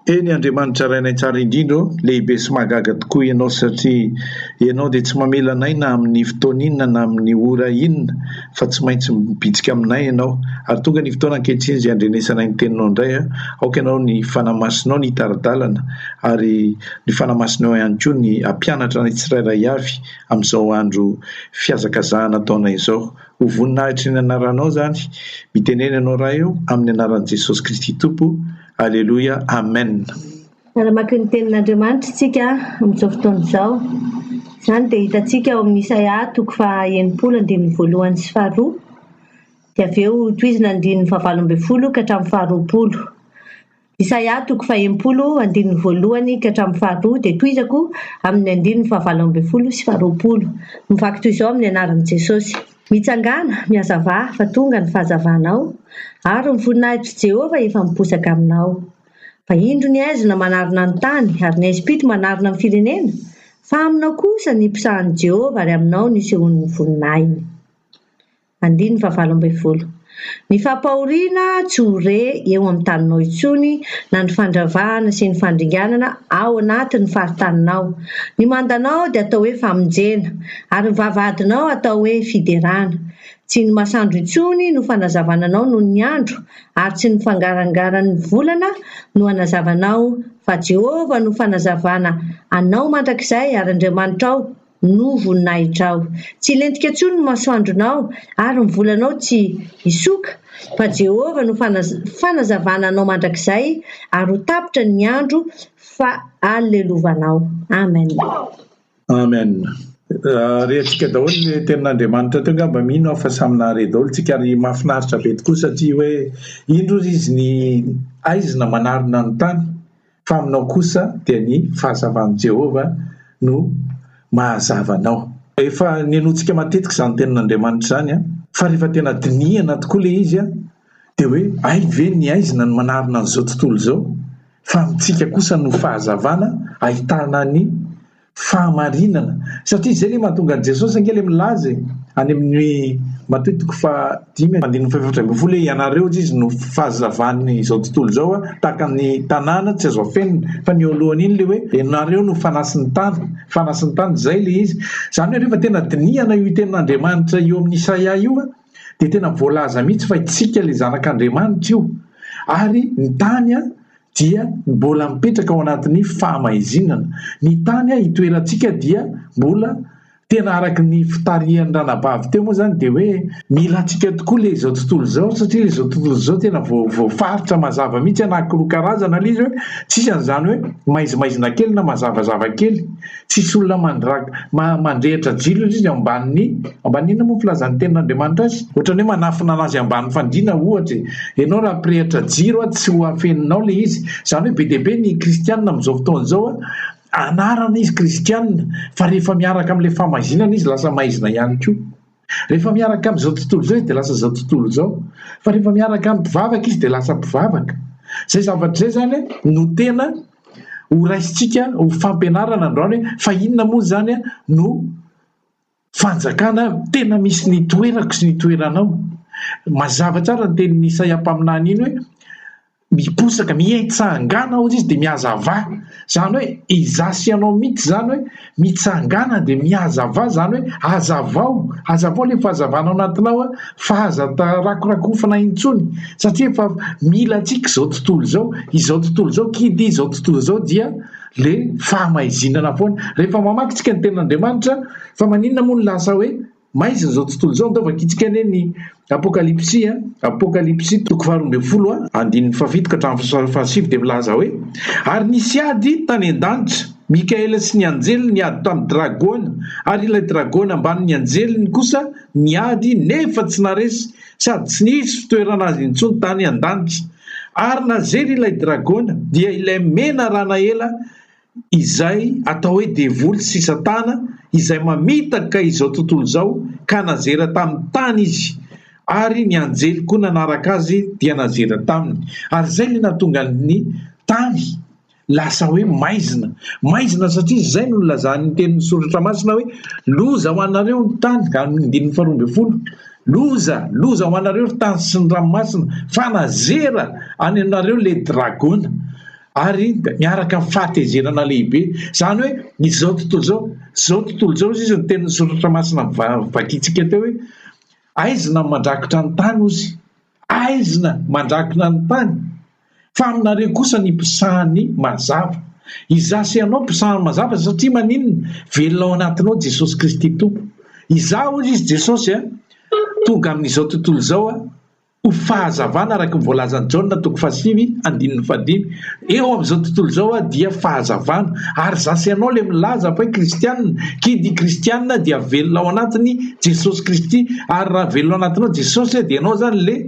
Eny Andriamanitra Rainay Tsara Indrindra ô, lehibe sy mahagaga tokoa Ianao satria Ianao dia tsy mamela anay na amin'ny fotoana inona na amin'ny ora inona fa tsy maintsy mibitsika aminay Ianao ary tonga ny fotoana ankehitriny izay handrenesanay ny Teninao indray aoka Ianao ny Fanahy Masinao ny hitari-dalana ary ny Fanahy Masinao ihany koa ny hampianatra anay tsirairay avy amin'izao andro fihazakazahana ataonay izao ho voninahitry ny Anaranao izany mitenena Ianao Ray ô amin'ny Anaran'i Jesosy Kristy Tompo Aleloia Amen. Tsara mamaky ny Tenin'Andriamanitra isika amin'izao fotoana izao. Izany dia hitantsika ao amin'ny Isaia toko faha enimpolo andininy voalohany sy faharoa, dia avy eo tohizina ny andininy fahavalo ambin'ny folo ka hatramin'ny faharoapolo. Isaia toko faha enimpolo andininy voalohany ka hatramin'ny faharoa dia tohizako amin'ny andininy fahavalo ambin'ny folo sy faharoapolo. Mivaky toy izao amin'ny anaran'i Jesosy. Mitsangàna, mihazavà fa tonga ny fahazavanao, ary ny voninahitr' Jehovah efa miposaka aminao. Fa indro ny haizina manarona ny tany, ary ny haizim-pito manarona ny firenena, fa aminao kosa ny mpisahan' i Jehovah ary aminao nisehoan' ny voninahiny. Andininy fahavalo ambin'ny folo. Ny fampahoriana tsy ho re eo amin'ny taninao intsony na ny fandravahana sy ny fandringanana ao anaty ny faritaninao. Ny mandanao dia atao hoe famonjena, ary ny vavahadinao atao hoe fiderana. Tsy ny masandro intsony no fanazavana anao noho ny andro, ary tsy ny fangarangaran'ny volana no hanazava anao, fa Jehovah no fanazavana anao mandrakizay, ary Andriamanitrao, no voninahitrao. Tsy hilentika intsony ny masoandronao, ary ny volanao tsy hisoka, fa Jehovah no fanazavana anao mandrakizay, ary ho tapitra ny andro fahalelovanao. Amen. Amen. Rehatsika daholo ny tenin'Andriamanitra teo angamba mino aho fa samy nahare daholo tsika ary mahafinaritra be tokoa satria hoe indro ry izy ny aizina manarina ny tany fa aminao kosa dia ny fahazavan'i Jehovah no mahazava anao. Efa nenointsika matetika izany Tenin'Andriamanitra izany fa rehefa tena dinihana tokoa ilay izy dia hoe hay ve ny aizina no manarina an'izao tontolo izao fa amintsika kosa no fahazavana ahitana ny fahamarinana satria izay le mahatonga Jesosy ange le milaza e any amin'ny Matoy toko faha dimy andininy faha efatra ambin'ny folo hoe ianareo hozy izy no fahazavan'ny izao tontolo izao a tahaka ny tanàna tsy azo afenina fa ny eo alohan'iny le hoe ianareo no fanasin'ny tany fanasin'ny tany izay le izy izany hoe rehefa tena dinihana io tenin'Andriamanitra eo amin'ny Isaia io a dia tena voalaza mihitsy fa itsika le zanak'Andriamanitra io ary ny tany a dia mbola mipetraka ao anatin'ny fahamaizinana. Ny tany hitoerantsika dia mbola tena araka ny fitarihan'ny ranabavy teo moa zany dia hoe mila antsika tokoa le izao tontolo izao satria le izao tontolo izao tena voafaritra mazava mihitsy anankiroa karazana le izy hoe tsisy an'izany hoe maizimaizina kely na mazavazava kely Tsisy olona mandrag, ma, mandrehitra jiro izy ao ambanin'ny, ambanin'ny inona moa ny filazan'ny Tenin'Andriamanitra azy? Ohatra ny hoe manafina anazy ambanin'ny fandriana ohatra e. Ianao raha hampirehitra jiro an, tsy ho afeninao ilay izy. Izany hoe be dia be ny kristiana amin'izao fotoana izao an, anarana izy kristiana, fa rehefa miaraka amin'ilay fahmaizinana izy lasa maizina ihany koa. Rehefa miaraka amin'izao tontolo izao izy dia lasa izao tontolo izao. Fa rehefa miaraka amin'ny mpivavaka izy dia lasa mpivavaka. Izay zavatra izay izany no tena horaisintsika ho fampianarana androany hoe fa inona moa izany no fanjakana tena misy ny toerako sy ny toeranao. Mazava tsara ny tenin'i Isaia mpaminany iny hoe. Miposaka, mietsahangana hozy izy dia mihazava. Izany hoe izaho sy ianao mihitsy izany hoe mitsangana dia mihazava izany hoe hazavao, hazavao ilay fahazavana ao anatinao fa aza rakorakofana intsony satria efa mila antsika izao tontolo izao, izao tontolo izao kidy, izao tontolo izao dia le fahamaizinana foana. Rehefa mamaky tsika ny tenin'Andriamanitra fa maninona moa no lasa hoe. Maizina izao tontolo izao ndao vakitsika anie ny apokalipsy a! apokalipsy toko faharoa ambin'ny folo a! andininy fahafito ka hatramin'ny fahasivy dia milaza hoe, Ary nisy ady tany an-danitra, Mikaela sy ny anjeliny niady tamin'ny dragona, ary ilay dragona ambanin'ny anjeliny kosa niady nefa tsy naharesy, sady tsy nisy fitoerana azy intsony tany an-danitra. Ary nazery ilay dragona, dia ilay menarana ela izay atao hoe devoly sy satana izay mamitaka izao tontolo izao ka nazera tamin'ny tany izy ary ny anjely koa nanaraka azy dia nazera taminy ary izay ilay nahatonga ny tany lasa hoe maizina maizina satria izay no nilazan'ny tenin'ny soratra masina hoe loza ho anareo ny tany amin'ny andininy faharoa ambin'ny folo loza loza ho anareo ry tany sy ny ranomasina fa nazera any aminareo le dragona ary miaraka amin'ny fahatezerana lehibe izany hoe izao tontolo izao izao tontolo izao izy izy ny teny soratra masina vakintsika teo hoe aizina ny mandrakotra ny tany ozy aizina mandrakona ny tany fa aminareo kosa ny mpisahany mazava izasy ianao mpisahany mazava satria maninona velona ao anatinao jesosy kristy tompo izaho ozy izy jesosy a tonga amin'izao tontolo izao a Ho fahazavana, araka ny voalazan'i Jaona toko fahasivy andininy fahadimy, eo amin'izao tontolo izao dia fahazavana, ary za sy ianao ilay milaza fahy kristianina, kidy i kristianina dia velona ao anatiny Jesosy Kristy, ary raha velona ao anatinao Jesosy dia ianao izany ilay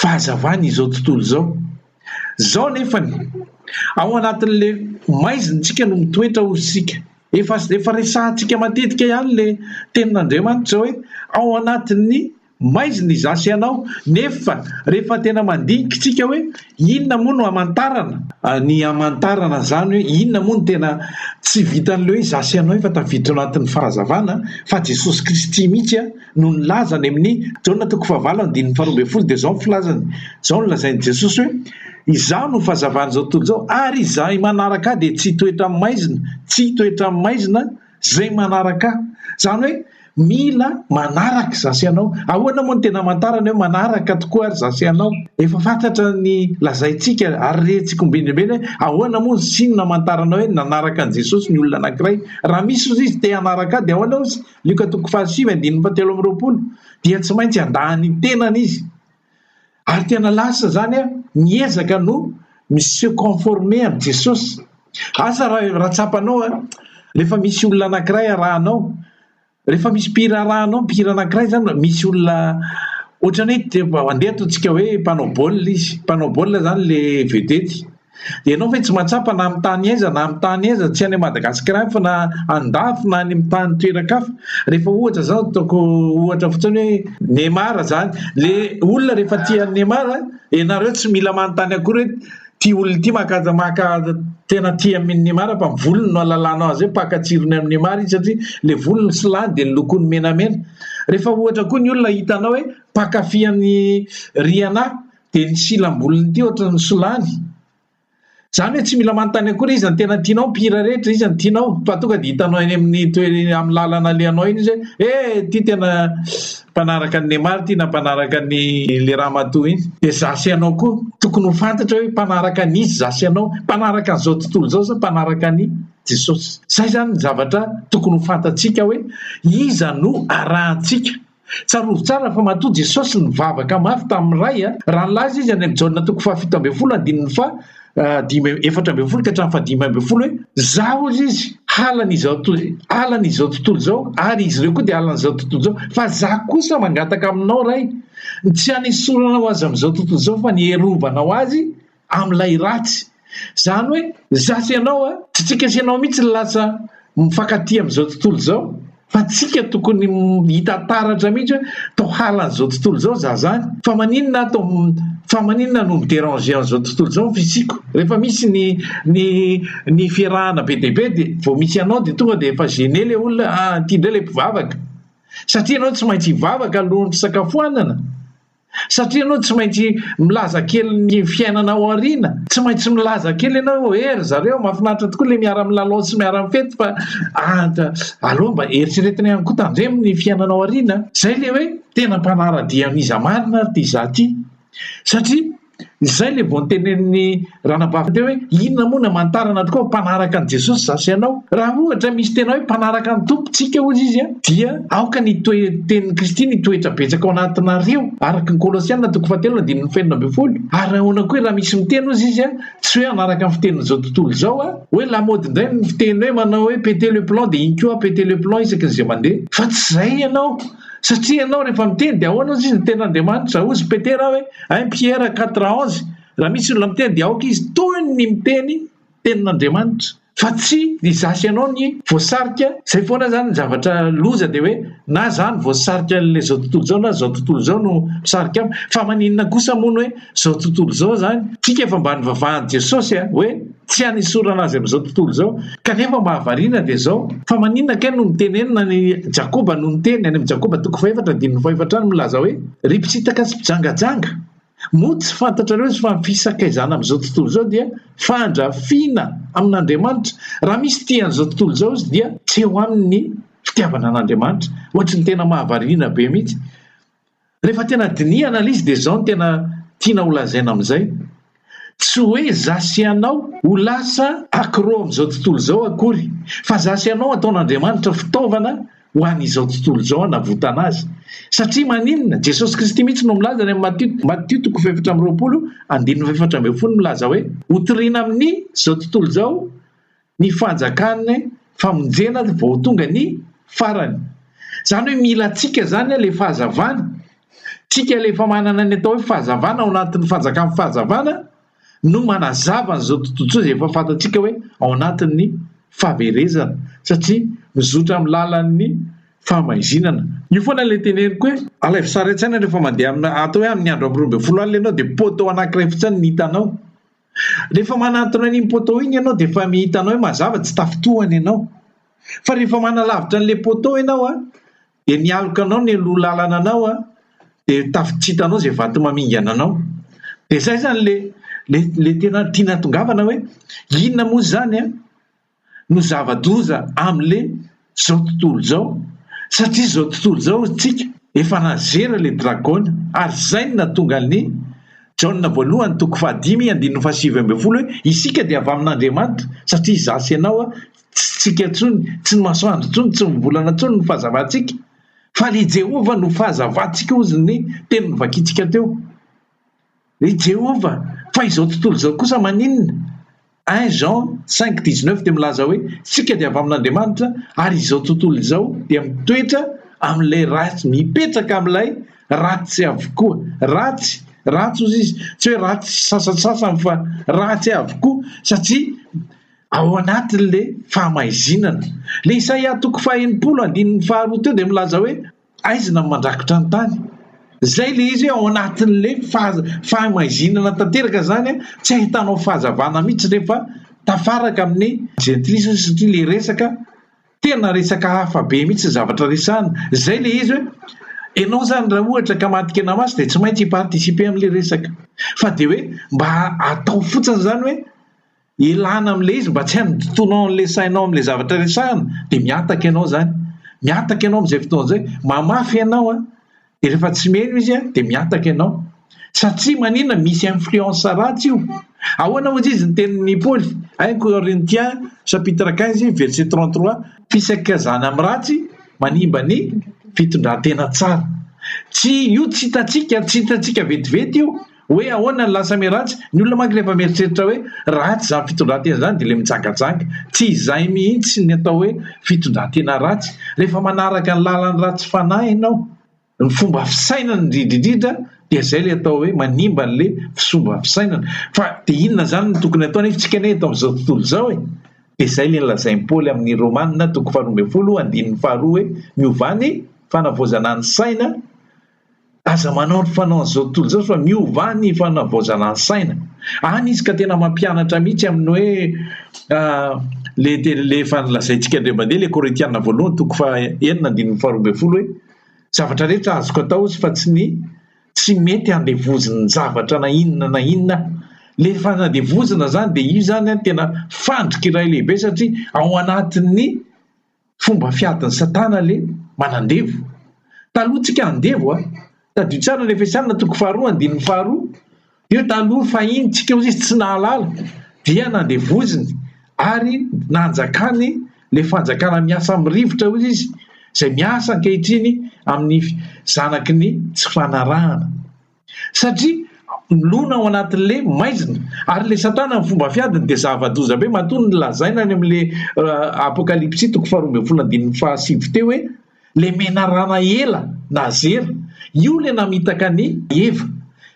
fahazavany izao tontolo izao. Zao nefany, ao anatin'le maizintsika no mitoetra hoy isika. Efa efa resahantsika matetika ihany le tenin'Andriamanitra hoe ao anatin'ny Maizina izaho sy ianao, nefa rehefa tena mandinika isika hoe inona moa no hamantarana, ny hamantarana izany hoe inona moa no tena tsy vitan'ilay hoe izaho sy ianao efa tafiditra ao anatin'ny fahazavana fa Jesosy Kristy mihitsy no nilaza any amin'ny Jaona toko fahavalo andininy faharoa ambin'ny folo dia izao ny filazany, izao no lazain'i Jesosy hoe izaho no fahazavan'izao tontolo izao ary izay manaraka ahy dia tsy hitoetra amin'ny maizina, tsy hitoetra amin'ny maizina. Izay manaraka ahy. Izany hoe mila manaraka izaho sy ianao. Ahoana moa no tena amantarana hoe manaraka tokoa ary izaho sy ianao? Efa fantatra ny lazaintsika ary rentsika ombinimbiny hoe ahoana moa ny signe amantarana hoe nanaraka an'i Jesosy ny olona anankiray. Raha misy hozy izy te hanaraka ahy dia ahoana hozy? Lioka toko fahasivy andininy fahatelo amby roapolo. Dia tsy maintsy handaha ny tenany izy Ary tena lasa zany a, miezaka no mi se conformer amin'i Jesosy. Asa raha raha tsapanao a, rehefa misy olona anankiray arahanao, rehefa misy mpihira arahanao, mpihira anankiray zany, misy olona ohatran'ny hoe, andeha ataontsika hoe mpanao baolina izy, mpanao baolina zany le vedety. Ianao ve tsy mahatsapa na amin'ny tany aiza na amin'ny tany aiza, tsy any Madagasikara ihany fa na andafy na any amin'ny tany toeran-kafa, rehefa ohatra izany ataoko ohatra fotsiny hoe Neymar izany, le olona rehefa tia an'i Neymar, ianareo tsy mila manontany akory hoe ity olona ity maka maka tena tia amin'i Neymar fa ny volony no alalanao azy hoe mpaka tsirony amin'i Neymar izy satria le volony sy lany dia ny lokony menamena, rehefa ohatra koa ny olona hitanao hoe mpakafy an'i Rihanna. dia ny silam-bolony ity ohatra ny solany. Izany hoe tsy mila manontany akory iza ny tena tianao, mpihira rehetra iza ny tianao fa tonga dia hitanao eny amin'ny toe- eny amin'ny lalana alehanao eny izy hoe eh ity tena mpanaraka an'i Neymar ity na mpanaraka an'i le ramatoa iny. Dia izaho sy ianao koa tokony ho fantatra hoe mpanaraka an'iza izaho sy ianao, mpanaraka an'izao tontolo izao sa mpanaraka an'i Jesosy. Izay izany ny zavatra tokony ho fantatsika hoe iza no arahantsika. Tsarovy tsara fa matoa Jesosy nivavaka mafy tamin'ny Ray a! Raha nilaza Izy any amin'ny Jaona toko fahafito ambin'ny folo andininy faha dimy amby efatra ambin'ny folo ka hatramin'ny fahadimy ambin'ny folo hoe, Izaho hozy Izy, halan'izao halan'izao tontolo izao, ary izy ireo koa dia halan'izao tontolo izao, fa Izaho kosa mangataka aminao Ray, tsy hanesorana ho azy amin'izao tontolo izao fa ny hiarovanao azy amin'ilay ratsy. Izany hoe izaho sy ianao a, tsy tsika sy ianao mihitsy no lasa mifankatia amin'izao tontolo izao fa tsika tokony hita taratra mihitsy hoe tao halan'izao tontolo izao izaho izany fa maninona ato fa maninona no mi-déranger an'izao tontolo izao ny fisiako. Rehefa misy ny ny ny fiarahana be dia be dia vao misy anao dia tonga dia efa gêné ilay olona ah ity indray ilay mpivavaka satria ianao tsy maintsy hivavaka alohan'ny fisakafoanana. Satria ianao tsy maintsy milaza kely ny fiainana ao aoriana, tsy maintsy milaza kely ianao hoe eh ry zareo mahafinaritra tokoa ilay miara-milalao sy miara-mifety fa anta aleo mba eritreretina ihany koa tandremo ny fiainana ao aoriana. Izay ilay hoe tena mpanara-dia an'iza marina ary ity izaho ity satria. Izay ilay vao notenenin'i Ranabavy teo hoe, inona moa no hamantarana tokoa fa mpanaraka an'i Jesosy izaho sy ianao? Raha ohatra misy tena hoe mpanaraka ny Tompontsika hozy izy dia aoka ny toe-tenin'i Kristy ny hitoetra betsaka ao anatinareo, araka ny Kolosiana toko fahatelo andininy faheenina ambin'ny folo. Ary ahoana koa raha misy miteny hozy izy a, tsy hoe hanaraka ny fitenin'izao tontolo izao a, hoe lamaody indray ny fiteny hoe manao hoe péter le plomb dia iny koa a, péter le plomb isaky ny izay mandeha, fa tsy izay ianao. satria ianao rehefa miteny dia ahoana ozy izy ny tena Andriamanitra ozy Petera hoe un Pierre quatre onze raha misy olona miteny dia aoka izy toy ny miteny tenin'Andriamanitra fa tsy ny zasy ianao ny voasarika izay foana izany ny zavatra loza dia hoe na zany voasarika an'la zao tontolo izao na zao tontolo izao no misarika am fa maninona kosa moa ny hoe zao tontolo izao zany tsika efa mba nivavahan'i Jesosy a hoe Tsy hanesorana azy amin'izao tontolo izao. Kanefa mahavariana dia izao, fa maninona kay no mitenenina any Jakoba no niteny, any amin'ny Jakoba toko fahefatra andininy fahefatra any milaza hoe, Ry mpitsitaka sy mpijangajanga, moa tsy fantatrareo fa ny fisakaizana amin'izao tontolo izao dia fandrafiana amin'Andriamanitra? Raha misy tia an'izao tontolo izao izy dia tsy eo aminy ny fitiavana an'Andriamanitra. Ohatry ny tena mahavariana be mihitsy. Rehefa tena dinihana ilay izy dia izao no tena tiana holazaina amin'izay, tsy hoe za sy ianao ho lasa accro amin'izao tontolo izao akory fa za sy ianao ataon'Andriamanitra fitaovana ho an'izao tontolo izao hanavotana azy. Satria maninona? Jesosy Kristy mihitsy no milaza any amin'ny Matio, Matio toko fahefatra amby roapolo andininy fahefatra ambin'ny folo milaza hoe, Hotoriana amin'izao tontolo izao ny fanjakan'ny famonjena vao tonga ny farany. Izany hoe mila antsika izany ilay fahazavana. Isika ilay efa manana ny atao hoe fahazavana ao anatin'ny fanjakan'ny fahazavana no manazava an'izao tontolo izay efa fantatsika hoe ao anatin'ny fahaverezana satria mizotra amin'ny lalan'ny fahamaizinana. Io foana ilay teneniko hoe alaivo sary an-tsaina rehefa mandeha amin'ny atao hoe amin'ny andro amby roa ambin'ny folo alina ianao dia poteau anankiray fotsiny no hitanao. Rehefa manantona an'iny poteau iny ianao dia efa hitanao hoe mazava tsy tafintohana ianao. Fa rehefa manalavitra an'ilay poteau ianao an, dia ny alokanao no hialoha lalana anao an, dia tafy tsy hitanao izay vato mamingana anao. Dia izay izany ilay ilay ilay tena tiana tongavana hoe inona moa izany an? no zava-doza amle zao tontolo zao satria zao tontolo zao tsika efa nazera le dragon ary zay no natonga an'i Jaona voalohany toko fahadimy andininy fahasivy ambin'ny folo hoe isika dia avy amin'Andriamanitra satria za sy ianao a tsy tsika tsony tsy ny masoandro tsony tsy ny volana tsony no fahazavantsika fa le Jehovah no fahazavantsika ozy ny teny novakintsika teo I Jehovah, fa izao tontolo izao kosa maninona? I Jean cinq dix neuf dia milaza hoe, Isika dia avy amin'Andriamanitra, ary izao tontolo izao dia mitoetra amin'ilay ratsy, mipetraka amin'ilay ratsy avokoa. Ratsy, ratsy hozy izy, tsy hoe ratsy sasantsasany fa ratsy avokoa, satria ao anatin'ilay fahamaizinana. Ilay Isaia toko faha enimpolo andininy faharoa teo dia milaza hoe, Aizina ny mandrakitra ny tany. Zay le izy ao anatin'le fahamaizina tanteraka zany tsy ahitanao fahazavana mihitsy rehefa tafaraka amin'ny jentilisa satria le resaka tena resaka hafa be mihitsy ny zavatra resahana. Zay le izy hoe enao zany raha ohatra ka matikena maso de tsy maintsy hi-participer amle resaka fa de hoe mba atao fotsiny zany hoe Elana amin'ilay izy mba tsy handotoanao an'ilay sainao amin'ilay zavatra resahana dia mihataka ianao izany. Mihataka ianao amin'izay fotoana izay. Mamafy ianao an! Dia rehefa tsy mino izy an, dia mihataka ianao. Satria maninona? Misy influence ratsy io. Ahoana hoy izy ny tenin'i Paoly? Un Corinthiens chapitre quinze verset trente trois, Fisakazana amin'ny ratsy manimba ny fitondran-tena tsara. Tsy io tsy hitantsika, tsy hitantsika vetivety io Hoe ahoana ny lasa miharatsy? Ny olona manko rehefa mieritreritra hoe ratsy izany fitondran-tena izany dia ilay mijangajanga. Tsy izay mihitsy ny atao hoe fitondran-tena ratsy. Rehefa manaraka ny lalan'ny ratsy fanahy ianao, ny fomba fisainany indridridridra dia izay ilay atao hoe manimba an'ilay fsomba fisainana. Fa dia inona izany no tokony hatao nefa isika anie eto amin'izao tontolo izao e? Dia izay ilay nolazain'i Paoly amin'ny Romana toko faharoa ambin'ny folo andininy faharoa hoe miovà ny fanavaozana ny saina Aza manao ny fanaon'izao tontolo izao fa miova ny fanavaozana ny saina. Any izy ka tena mampianatra mihitsy amin'ny hoe le teny le efa nolazaintsika indray mandeha le Korintiana voalohany toko fa enina andininy faharoa ambin'ny folo hoe zavatra rehetra azoko atao izy fa tsy ny tsy mety handevozina zavatra na inona na inona le fanadevozina zany de io zany tena fandrika iray lehibe satria ao anatin'ny Fomba fiadin'i satana le manandevo. Taloha tsika handevo a! Tadidio tsara ny Efesianina toko faharoa andininy faharoa, teo taloha fahiny tsika ozy izy tsy nahalala dia nandevoziny ary nanjakany le fanjakana miasa amin'ny rivotra ozy izy zay miasa ankehitriny amin'ny zanaky ny tsy fanarahana. satria milona ao anatin'le maizina ary le satana ny fomba fiadiny dia zava-doza be matoa ny lazaina any amin'le apokalipsy toko faharoa ambin'ny folo andininy fahasivy teo hoe le menarana ela na zera io le namitaka ny eva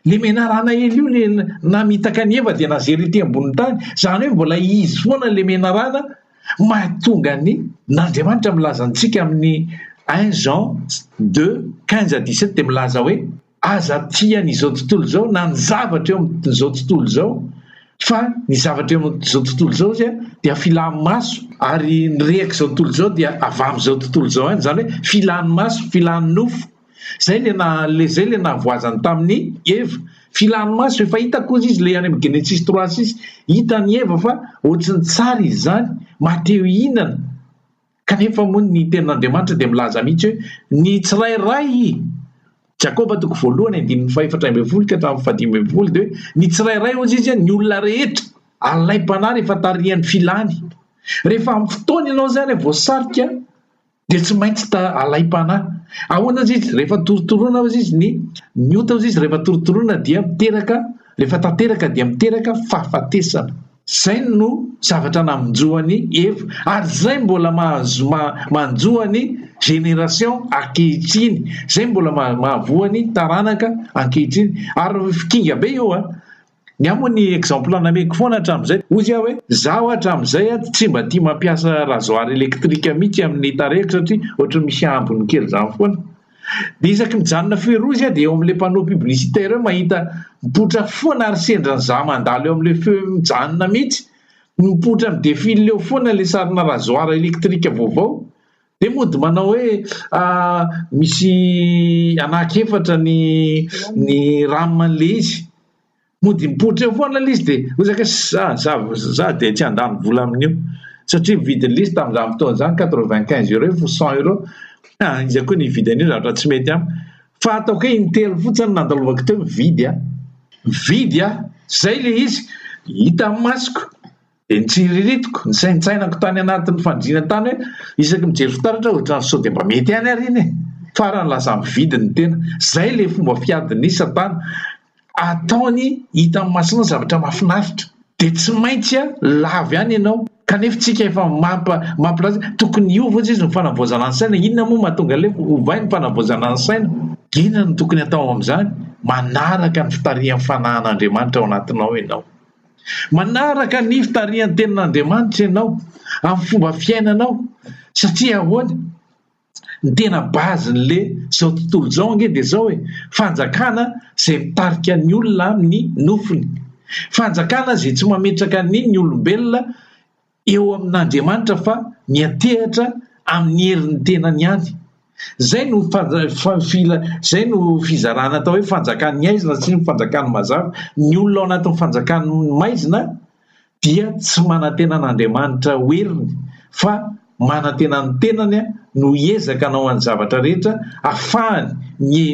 le menarana ela io le namitaka ny eva dia na zera ity ambonin'ny tany zany hoe mbola izy foana le menarana mahatonga ny n'andriamanitra milaza antsika amin'ny un jean deux quinze à dix sept dia milaza hoe Aza tia ny izao tontolo izao na ny zavatra eo amin'izao tontolo izao fa ny zavatra eo amin'izao tontolo izao zay dia filan'ny maso ary ny rehak'izao tontolo izao dia avy amin'izao tontolo izao ihany, izany hoe filan'ny maso, filan'ny nofo. Zay le na le zay le nahavoazany tamin'i Eva. Filan'ny maso efa hita koa izy le any amin'ny Genesis trois six, hitan'i Eva fa ohatry ny tsara izy izany, maha-te hihinana. Kanefa moa ny tenin'Andriamanitra dia milaza mihitsy hoe, Ny tsirairay, Jakoba toko voalohany andininy fahefatra ambin'ny folo ka hatramin'ny fahadimy ambin'ny folo dia hoe, Ny tsirairay hozy izy, ny olona rehetra, alaim-panahy rehefa tarihan'ny filany. Rehefa amin'ny fotoana ianao izany voasarika dia tsy maintsy alaim-panahy. Ahoana hozy izy? Rehefa torotoroina hozy izy ny, ny ota hozy izy rehefa torotoroina dia miteraka Rehefa tanteraka dia miteraka fahafatesana. Izay no zavatra namonjeo an'i Eva ary izay mbola mahazo manjo an'ny génération ankehitriny, izay mbola mahavoa ny taranaka ankehitriny. Ary kinga be io a! Ny ahy moa ny exemple nameko foana hatramin'izay, hoy aho hoe izaho hatramin'izay tsy mba tia mampiasa rasoir électrique mihitsy amin'ny tarehiko satria ohatran'ny misy ambiny kely izany foana. dia isaky mijanona feu rouge aho dia eo amin'ilay panneau publicitaire eo mahita mipoitra foana ary sendra ny za mandalo eo amin'ilay feu mijanona mihitsy no mipoitra mi défile eo foana ilay sarina rasoir électrique vaovao dia mody manao hoe ah, misy anak'efatra ny ny ram an'ilay izy Mody mipoitra eo foana ilay izy dia hoy za za dia tsy handany vola amin'io satria mividy lisy tamin'izany fotoana izany quatre vingt quinze euros fo cent euros ah iza koa ny hividy an'io zavatra tsy mety amiko fa ataoko hoe intelo fotsiny nandalovako teo mividy ah mividy ah zay le izy hita masiko Dia nitsiriritiko, nisaintsainako tany anatin'ny fandriana tany hoe isaky mijery fitaratra aho ohatran'ny sao dia mba mety ihany àry iny e! Farany lasa mividy ny tena. Izay ilay fomba fiadin'i Satana. Ataony hitan'ny masonao zavatra mahafinaritra. Dia tsy maintsy lavo ihany ianao. Kanefa isika efa mampa, mampilaza hoe tokony hiova hozy izy ny fanavaozana ny saina. Inona moa mahatonga an'ilay hoe ovay ny fanavaozana ny saina? Inona no tokony atao amin'izany? Manaraka ny fitarihan'ny fanahan'Andriamanitra ao anatinao ianao. Manaraka ny fitarihan'ny Tenin'Andriamanitra ianao amin'ny fomba fiainanao satria ahoana? Ny tena base-n'le zao tontolo zao ange de zao e, fanjakana zay mitarika ny olona amin'ny nofony, fanjakana zay tsy mametraka ny ny olombelona, eo amin'Andriamanitra fa miantehatra amin'ny herin'ny tenany ihany. Izay no izay no fizarana atao hoe fanjakan'ny haizina sy ny fanjakan'ny mazava. Ny olona ao anatin'ny fanjakan'ny maizina dia tsy manantena an'Andriamanitra ho heriny fa manantena ny tenany no hiezaka hanao an'ny zavatra rehetra afahany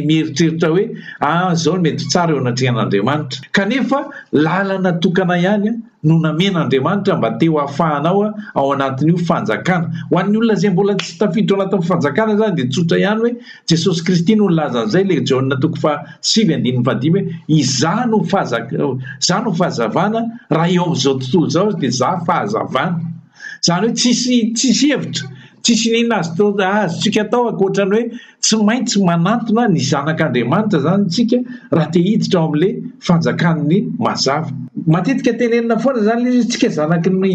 mieritreritra hoe ah zao ny mety ho tsara eo anatrehan'Andriamanitra kanefa lalana tokana ihany no namen'Andriamanitra mba te ho afahanao ao anatin'io fanjakana. Ho an'ny olona izay mbola tsy tafiditra ao anatin'ny fanjakana izany dia tsotra ihany hoe Jesosy Kristy no nilaza an'izay ilay Jaona toko faha sivy andininy faha dimy hoe izaho no fahazavana raha eo amin'izao tontolo izao aza dia izaho fahazavana. Izany hoe tsisy tsisy hevitra, tsisy inona azotoa azontsika atao ankoatra ny hoe tsy maintsy manantona ny zanak'Andriamanitra izany isika raha te hiditra ao amin'ilay fanjakan'ny mazava. Matetika tenenina foana izany ilay izy hoe tsika zanaky ny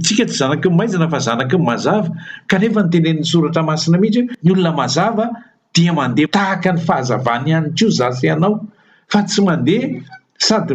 tsika tsy zanaky ny maizina fa zanaky ny mazava kanefa ny tenenin'ny soratra masina mihitsy hoe ny olona mazava dia mandeha tahaka ny fahazavany ihany koa za sy ianao fa tsy mandeha sady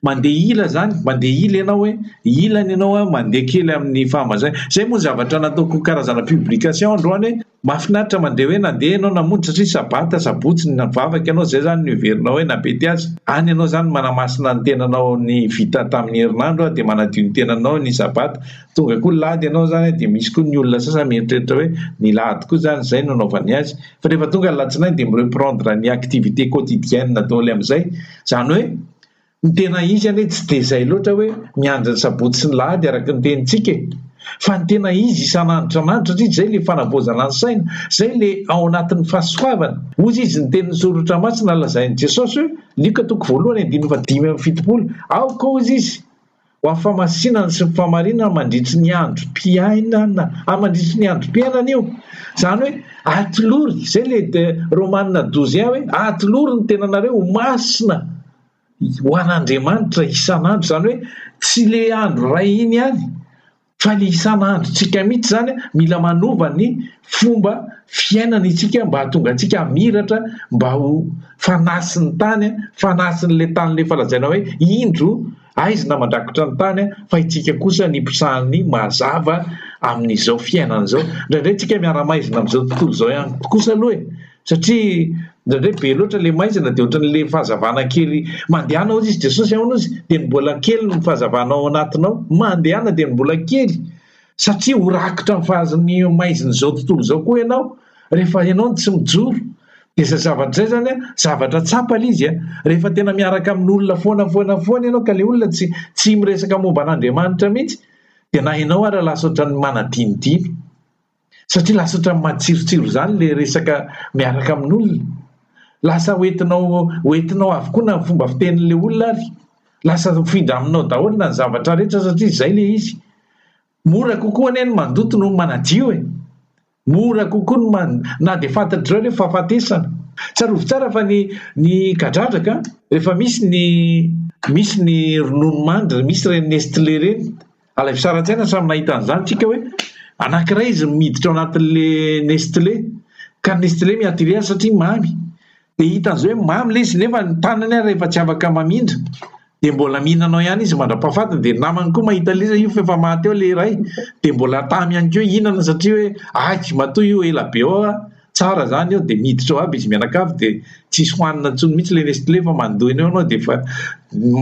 mandeha ila zany mandeha ila ianao hoe ila ny ianao a mandeha kely amin'ny fahamazay zay moa ny zavatra nataoko karazana publication androany hoe mahafinaritra mandeha hoe nandeha ianao namonjy satria sabata sabotsy ny vavaka ianao zay zany ny heverinao hoe nabety azy any ianao zany manamasina ny tenanao ny vita tamin'ny herinandro a dia manadio ny tenanao ny sabata Tonga koa lady ianao zany dia misy koa ny olona sasany mieritreritra hoe ny lady koa zany zay no anaovany azy fa rehefa tonga ny latsinainy dia mi-reprendre ny activité quotidienne daholo amizay zany hoe ny tena izy anie tsy dia zay loatra hoe miandry ny sabotsy sy ny lahady araky ny tenintsika e! fa ny tena izy isan'andro isan'andro satria zay le fanavaozana ny saina, zay le ao anatin'ny fahasoavany, hozy izy ny tenin'ny Soratra Masina lazain'i Jesosy hoe, Lioka toko voalohany andininy fahadimy amby fitopolo, aoka hozy izy, Ho amin'ny famasinana sy ny famarinana mandritry ny androm-piainana. Ary mandritry ny androm-piainana io. Izany hoe atolory. Izay ilay de Romanina douze un hoe atolory ny tenanareo ho masina ho an'Andriamanitra isan'andro. Izany hoe tsy ilay andro iray iny ihany. fa ny isan'androntsika mihitsy izany mila manova ny fomba fiainana isika mba hahatonga antsika hamiratra mba ho fanasin'ny tany fanasin'ilay tany lefa lazaina hoe indro aizina mandrakotra ny tany fa itsika kosa ny mpisahan'ny mazava amin'izao fiainana izao indraindray tsika miara-maizina amin'izao tontolo izao ihany kosa aloha e Satria indraindray be loatra ilay maizina dia ohatran'ilay fahazavana kely mandehana hozy izy Jesosy ahoana hozy dia ny mbola kely ny fahazavana ao anatinao mandehana dia ny mbola kely satria ho rakitra amin'ny fahazavan'ny maizina izao tontolo izao koa ianao rehefa ianao no tsy mijoro dia izay zavatra izay zany a zavatra tsapa ilay izy a rehefa tena miaraka amin'olona foana foana foana ianao ka ilay olona tsy tsy miresaka momba an'Andriamanitra mihitsy dia na ianao ary lasa ohatran'ny manadinodino satria lasa ohatran'ny matsirotsiro izany ilay resaka miaraka amin'olona, lasa hoentinao hoentinao avokoa na ny fomba fitenin'ilay olona ary, lasa mifindra aminao daholo na ny zavatra rehetra satria izay ilay izy, mora kokoa anie ny mandoto noho ny manadio e, mora kokoa ny man- na dia fantatr'izao ilay fahafatesana, tsarovy tsara fa ny ny kadradraka an, rehefa misy ny misy ny ronono mandry, misy ireny Nestlé ireny, Ilay fisaran-tsaina samy nahita an'izany tsika hoe anankiray izy no miditra ao anatin'le Nestlé ka Nestlé mi-attirer azy satria mamy dia hita an'izay hoe mamy ilay izy nefa ny tanany ary rehefa tsy afaka mamindra dia mbola mihinana ao ihany izy mandra-pahafatiny dia ny namany koa mahita ilay izy io fa efa maty eo ilay iray dia mbola tamy ihany koa hihinana satria hoe aiky matoa io ela be ao aho tsara zany eo dia miditra ao aby izy mianakavy dia tsisy hohanina intsony mihitsy ilay Nestlé fa mandoa eny eo ianao dia efa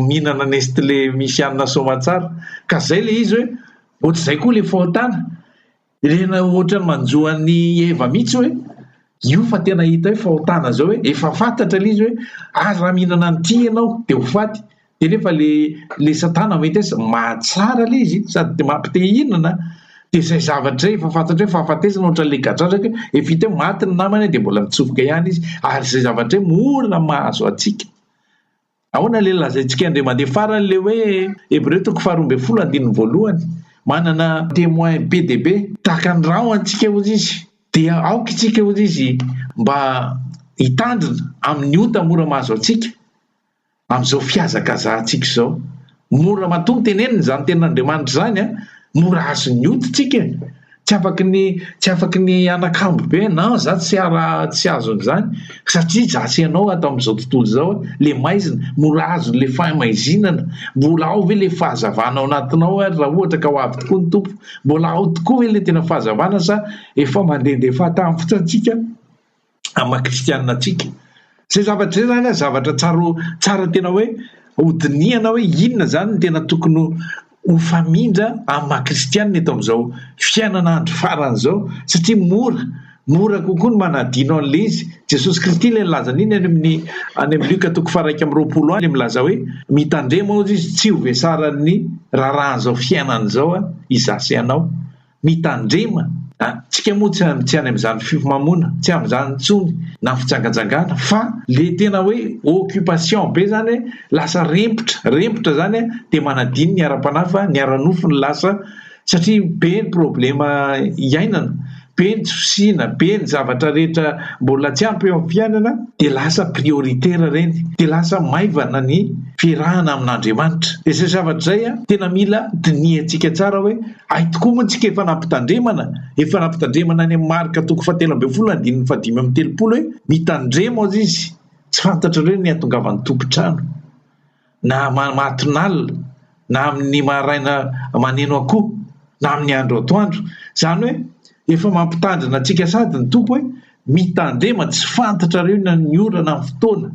mihinana Nestlé misy hanina soamatsara ka izay ilay izy hoe ohatr'izay koa ilay fahotana irena ohatrany manjo an'i Eva mihitsy hoe io fa tena hita hoe fahotana izao hoe efa fantatra ilay izy hoe ary raha mihinana an'ity ianao dia ho faty de nefa le le satana vitesse mahatsara le izy sady de mampite hihinana de izay zavatra izay efa fantatry hoe fahafatesana ohatran'le gadradraka hoe vita hoe maty ny namana de mbola mitsofoka ihany izy ary izay zavatra hoe mora mahazo antsika ahoana le lazaintsika indray mandeha farany le hoe hebreo toko faharoa ambin'ny folo andininy voalohany manana temoin be dia be tahaka ny rano antsika hozy izy dia aoka isika hozy izy mba hitandrina amin'ny ota mora mahazo antsika Amin'izao fihazakazahantsika izao, mora matoa ny tenenina izany tenin'Andriamanitra izany an! Mora azon'ny hoditsika e! Tsy afaky ny tsy afaky ny hanakambo be hoe non za tsy ara tsy azo an'izany satria za sy ianao ato amin'izao tontolo izao le maizina mora azon'ny le fahimaizinana mbola ao ve le fahazavana ao anatinao ary raha ohatra ka ho avy tokoa ny tompo mbola ao tokoa ve le tena fahazavana sa efa mandehandeha fahatany fotsiny antsika amin'ny maha kristianina antsika. Izay zavatra izay zany an, zavatra tsara tsara tena hoe hodinihana hoe inona zany no tena tokony ho famindra amin'ny maha kristianina eto amin'izao fiainana andro farany izao satria mora mora kokoa ny manadino an'ilay izy. Jesosy Kristy ilay nilaza an'iny any amin'ny any amin'ny Lioka toko faharaika amby roapolo any milaza hoe mitandrema hozy izy tsy ho vesaran'ny raharahan'izao fiainana izao an, izaho sy ianao. Mitandrema an! Tsika moa tsy any amin'izany fifamonoana, tsy amin'izany intsony na fijangajangana fa le tena hoe occupation be zany hoe lasa rempotra, rempotra zany an dia manadino ny ara-panahy fa ny ara-nofo no lasa satria be ny problema iainana, be ny tsy fisiana, be ny zavatra rehetra mbola tsy ampy eo amin'ny fiainana dia lasa prioritaire ireny, dia lasa maivana ny fiarahana amin'Andriamanitra, dia izay zavatra izay an tena mila dinihantsika tsara hoe. Hay tokoa moa tsika efa nampitandremana, efa nampitandremana any amin'ny marika toko fahatelo ambin'ny folo andininy fahadimy amby telopolo hoe mitandrema hozy izy, tsy fantatrareo ny hatongavan'ny tompon-trano na mahatonalina na amin'ny maraina maneno akoho na amin'ny andro atoandro, izany hoe efa mampitandrina antsika sady ny tompo hoe mitandrema tsy fantatrareo ny orana, ny fotoana.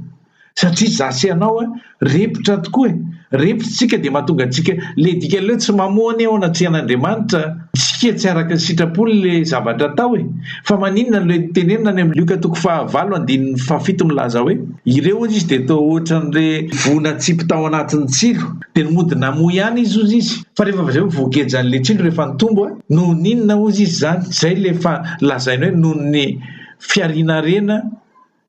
Satria za sy anao a repotra tokoa e! Repotra tsika de mahatonga antsika le dikany leo tsy mamoa anie ao anatrehan'Andriamanitra tsika tsy araka sitrapony le zavatra atao e! Fa maninona le tenenina any am Lioka toko faha valo andininy faha fito milaza hoe ireo hozy izy de toa ohatran'le voa natsipy tao anatin'ny tsilo de ny mody namoa ihany izy hozy izy fa rehefa avy zay voagejan'le tsilo rehefa nitombo a noho n'inona hozy izy zany? Zay le fa lazainy hoe noho ny fiarina harena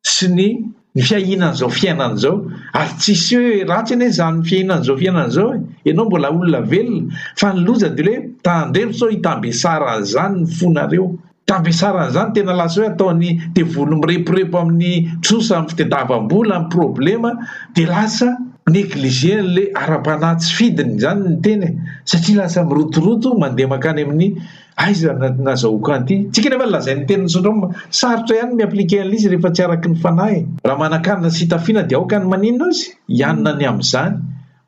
sy ny ny fiahiana an'izao fiainana izao ary tsisy hoe ratsy anie izany fiahiana an'izao fiainana izao e, ianao mbola olona velona fa ny loza dia hoe tandremo sao hitambesaran' izany ny fonareo, tambesaran' izany tena lasa hoe ataon'ny devoly mireporepo amin'ny trosa amin'ny fitadiavam-bola amin'ny problema dia lasa negliger an'ilay ara-panahy tsy fidiny izany ny tena e satria lasa mirotoroto mandeha mankany amin'ny Aiza ny nazahoako an'ity? Tsika nefa lazain'ny tenin'ny syndrome, sarotra ihany ny mi-appliquer an'ilay izy rehefa tsy araky ny fanahy. Raha manan-kanina sy hitafiana dia aoka ny maninona aza hianina ny amin'izany.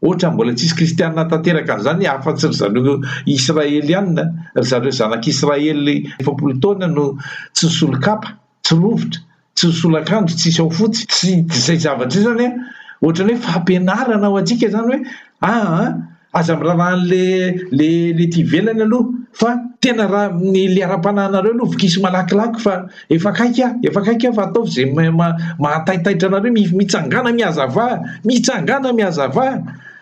Ohatrany mbola tsisy kristianina tanteraka an'izany afa-tsy ry zareo Israelianina, ry zareo zanak'Israely efapolo taona no tsy nisolo kapa, tsy rovitra, Tsy ny solakanjo tsisy ao fotsy, tsy izay zavatra izay izany an, ohatrany hoe fampianarana ho antsika izany hoe aa aza miraharaha anle le le ety ivelany aloha fa tena ra ny le ara-panahinareo aloha vokiso malakilaky fa efa akaiky an, efa akaiky an fa ataovy izay maha taitaitra anareo, mitsangàna mihazavà, mitsangàna mihazavà.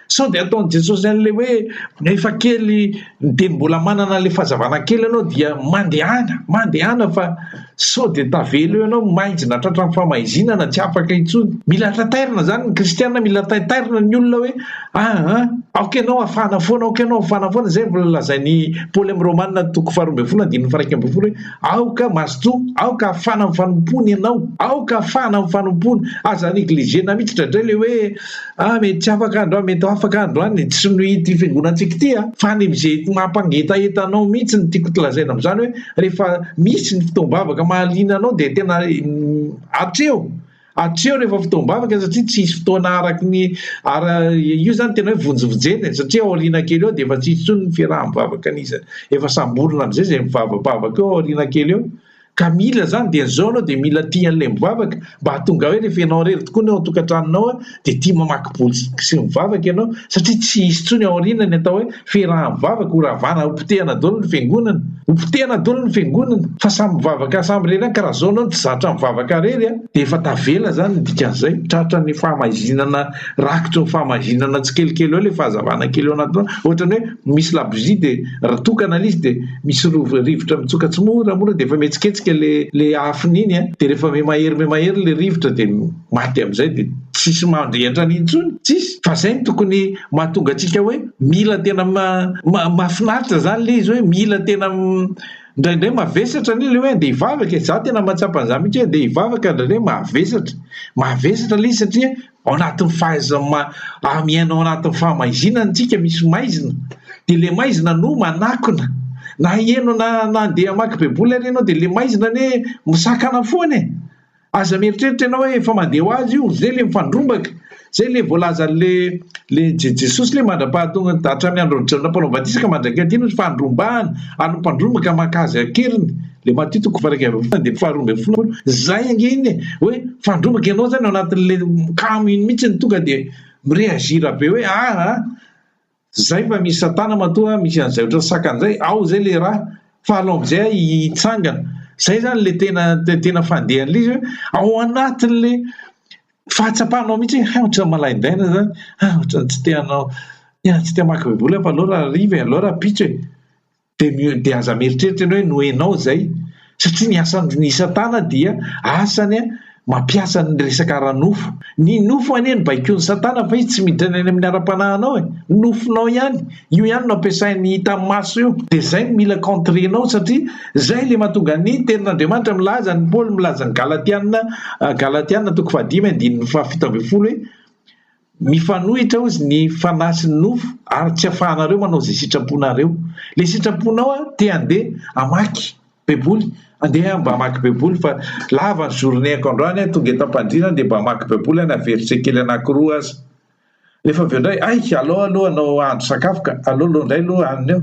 Sao dia ataon'i Jesosy an'ilay hoe efa kely dia mbola manana an'ilay fahazavana kely ianao dia mandehana, mandehana fa sao dia tavela eo ianao maizina tratran'ny famaizinana tsy afaka intsony. Mila taitairina izany ny kristiana, mila taitairina ny olona hoe aa ah, ah, aoka ianao afana foana, aoka ianao afana foana, izay vao lazain'i Paoly amin'ny Romanina toko faharoa ambin'ny folo andininy faraika ambin'ny folo hoe aoka mazotoa, aoka afana amin'ny fanompoana ianao, aoka afana amin'ny fanompoana, aza negliger-na mihitsy dradray ilay hoe Ah mety tsy afaka androany, mety ho afaka androany e, tsy noho ity fiangonantsika ity an, fa any amin'izay mampangetaheta anao mihitsy ny tiako tolazaina amin'izany hoe rehefa misy ny fotoam-bavaka mahaliana anao dia tena atreho atreho rehefa fotoam-bavaka satria tsy hisy fotoana araky ny ara io zany tena hoe vonjivonjena e, satria aoriana kely eo dia efa tsy hisy intsony ny fiaraha-mivavaka an'iza efa samborina amin'izay izay mivavabavaka eo aoriana kely eo Ka mila izany dia izao ianao dia mila tia an'ilay mivavaka mba hahatonga hoe rehefa ianao irery tokoa ny ao an-tokantranonao dia tia mamaky boky sy mivavaka ianao satria tsy hisy intsony ao aoriana ny atao hoe firahamivavaka ho ravana ho potehana daholo ny fiangonana ho potehana daholo ny fiangonana fa samy mivavaka samy irery any ka raha izao ianao no tsy zatra mivavaka irery dia efa tavela izany ny dikan'izay tratra ny fahamaizinana Rakitra eo famahinana tsikelikely eo ilay fahazavana kely eo anatinao. Ohatrany hoe misy labozia dia raha tokana ilay izy dia misy rov- rivotra mitsoka tsimoramora dia efa mihetsiketsika le le afony iny an. Dia rehefa miha-mahery miha-mahery ilay rivotra dia maty amin'izay dia tsisy mandry entrany intsony. Tsisy. Fa izay no tokony mahatonga antsika hoe mila tena ma- ma- mahafinaritra izany ilay izy hoe mila tena Indraindray mavesatra anie le hoe andeha hivavaka e! Za tena mahatsapa an'zany mihitsy hoe andeha hivavaka indraindray mavesatra. Mavesatra le izy satria ao anatin'ny fahaiza- ma- ah, miaina ao anatin'ny fahamaizinana tsika, misy maizina. De le maizina no manakona. Na heno na na andeha hamaky baiboly ary ianao de le maizina anie misakana foana e! Aza mieritreritra ianao hoe efa mandeha ho azy io, zay le mifandrombaka, zay le voalazan'ny le le Je Jesosy le mandra-pahatonga hatramin'ny andron'i Jaona mpanao batisa ka mandrak'y aty no fandrombahana, ary ny mpandrombaka maka azy an-keriny, le Matio toko fahairaika ambin'ny folo andininy faharoa ambin'ny folo, zay ange iny e, hoe mifandrombaka ianao zany ao anatin'le kamo iny mihitsy no tonga de mi-reagir be hoe aa, Zay mba misy satana matoa misy an'izay otrany sakana zay ao zay le raha fa alao amzay aho hitsangana zay zany le tena tena fandehan'le izy hoe ao anatin'le fahatsapanao mihitsy hoe hay otrany malaindaina zany hay otrany tsy te hanao tena tsy te hamaky baiboly aho fa aleo raha hariva e aleo raha ampitso e. dia mi dia aza mieritreritra ianao hoe noenao izay satria ny asan'i satana dia asany a mampiasa ny resaka ara-nofo ny nofo anie ny baikoan'i satana fa izy tsy miditra any amin'ny ara-panahinao e nofonao ihany io ihany no ampiasain'ny hita maso io dia izay no mila contrenao satria izay le mahatonga ny tenin'andriamanitra milaza ny paoly milaza ny galatiana galatiana toko fahadimy andininy fahafito ambin'ny folo hoe Mifanohitra hozy ny fanahy sy ny nofo ary tsy afahanareo manao izay sitraponareo. Ilay sitraponao te handeha hamaky baiboly, andeha mba hamaky baiboly fa lava ny journée-ko androany, tonga eto am-pandriana dia mba hamaky baiboly aho na verset kely anankiroa aza. Nefa avy eo indray, hay, aleo aloha hanao hahandro sakafo ka, aleo aleo indray aloha hanina eo.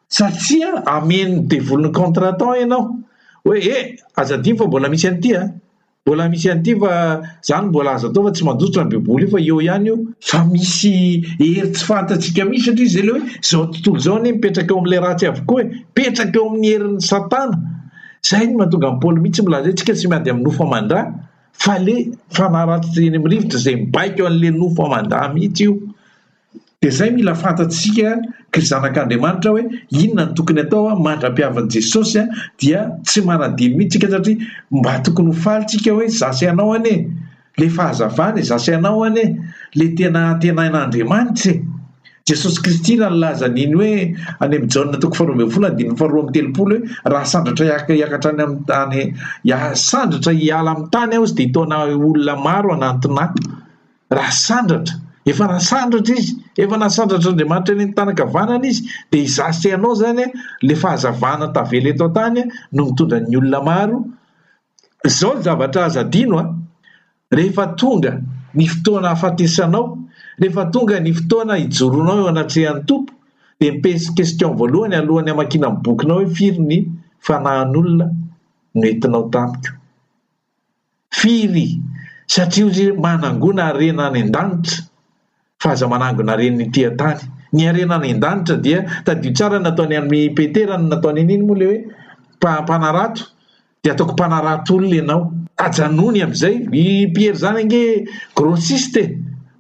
Satria amen'ny devoly ny contre-temps ianao. Hoe, eh, aza adino fa mbola misy an'ity an! Mbola misy an'ity fa za no mbola azo atao fa tsy mandositra ny baiboly io fa eo ihany io. Fa misy hery tsy fantatsika mihitsy satria izay le hoe zao tontolo zao anie mipetraka eo amle ratsy avokoa e, mipetraka eo amin'ny herin'ny satana, zay no mahatonga an'i paoly mihitsy milaza hoe tsika tsy miady amin'ny nofo aman-dra fa le fanahy ratsy eny amin'ny rivotra izay mibaiko an'le nofo aman-dra mihitsy io. Dia izay mila fantatsika ry zanak'Andriamanitra hoe inona no tokony atao an, mandra-pihavin'i Jesosy an, dia tsy manadino mihitsy tsika satria mba tokony ho faly tsika hoe za sy ianao anie e! le fahazavana e! za sy ianao anie le tena antenain'Andriamanitra e! Jesosy Kristy raha nilaza an'iny hoe any amin'i Jaona toko faharoa ambin'ny folo andininy faharoa amby telopolo hoe raha sandratra hiakatra any amin'ny tany sandratra hiala amin'ny tany aho izy dia hitaona olona maro hanantona ahy Rasandratra, efa rasandratra izy, efa nasandratr'Andriamanitra eny an-tànan-kavanana izy, dia izaho sy ianao izany an, ilay fahazavana tavela eto an-tany an, no mitondra ny olona maro, izao ny zavatra aza adino an, rehefa tonga ny fotoana hahafatesanao, rehefa tonga ny fotoana hijoroanao eo anatrehan'ny Tompo, dia ny pes, question voalohany alohan'ny hamakiana ny bokinao hoe firy ny fanahin'olona no entinao tamiko? Firy? Satria hoy izy manangona harena any an-danitra fa aza manangona haren'ny ety an-tany. Ny harena any an-danitra dia tadidio tsara ny nataony amin'i Petera ny nataony an'iny moa ilay hoe mpanarato dia ataoko mpanarato olona ianao. Tajanony amin'izay. I Pierre izany ange grossiste e!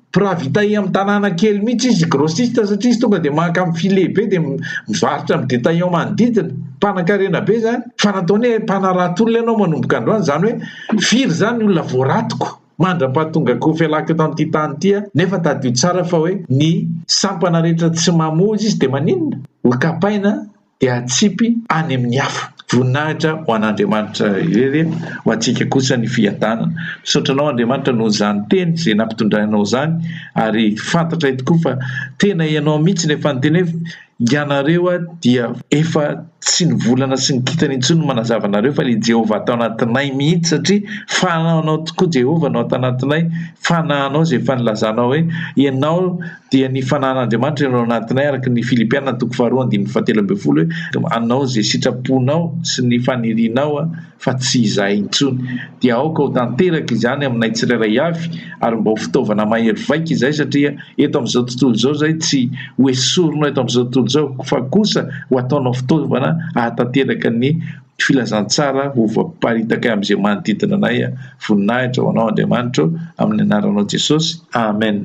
Mpirahavitae amin'ny tanàna kely mihitsy izy, grossiste, satria izy tonga dia maka amin'ny filet be dia mivarotra amin'ny détaillant manodidina. Mpanankarena be izany. Fa nataony hoe mpanarato olona ianao manomboka androany, izany hoe firy izany ny olona voaratiko mandra-pahatongako fialako eto amin'ity tany ity aho? Nefa tadidio tsara fa hoe ny sampana rehetra tsy mamoa izy, dia maninona? Hokapaina an! dia atsipy any amin'ny hafa. Voninahitra ho an'Andriamanitra irery ho antsika kosa ny fiadanana. Misaotra anao Andriamanitra noho izany teny izay nampitondranao izany ary fantatray tokoa fa tena ianao mihitsy no efa niteny hoe ianareo dia efa tsy ny volana sy ny kintana intsony no manazava anareo fa ilay Jehovah ato anatinay mihitsy satria fanahinao tokoa Jehovah no ato anatinay, fanahinao izay efa nilazanao hoe ianao Dia ny Fanahin'Andriamanitra eo anatinay, araka ny Filipiana toko faharoa andininy fahatelo ambin'ny folo hoe, Hanao izay sitraponao sy ny fanirianao aho, fa tsy izahay intsony. Dia aoka ho tanteraka izany aminay tsirairay avy, ary mba ho fitaovana mahery vaika izay, satria eto amin'izao tontolo izao izay tsy hoesorinao eto amin'izao tontolo izao, fa kosa ho ataonao fitaovana ahatanteraka ny Filazantsara ho voaparitaka amin'izay manodidina anay. Voninahitra ho Anao Andriamanitra ô, amin'ny Anaranao Jesosy. Amen.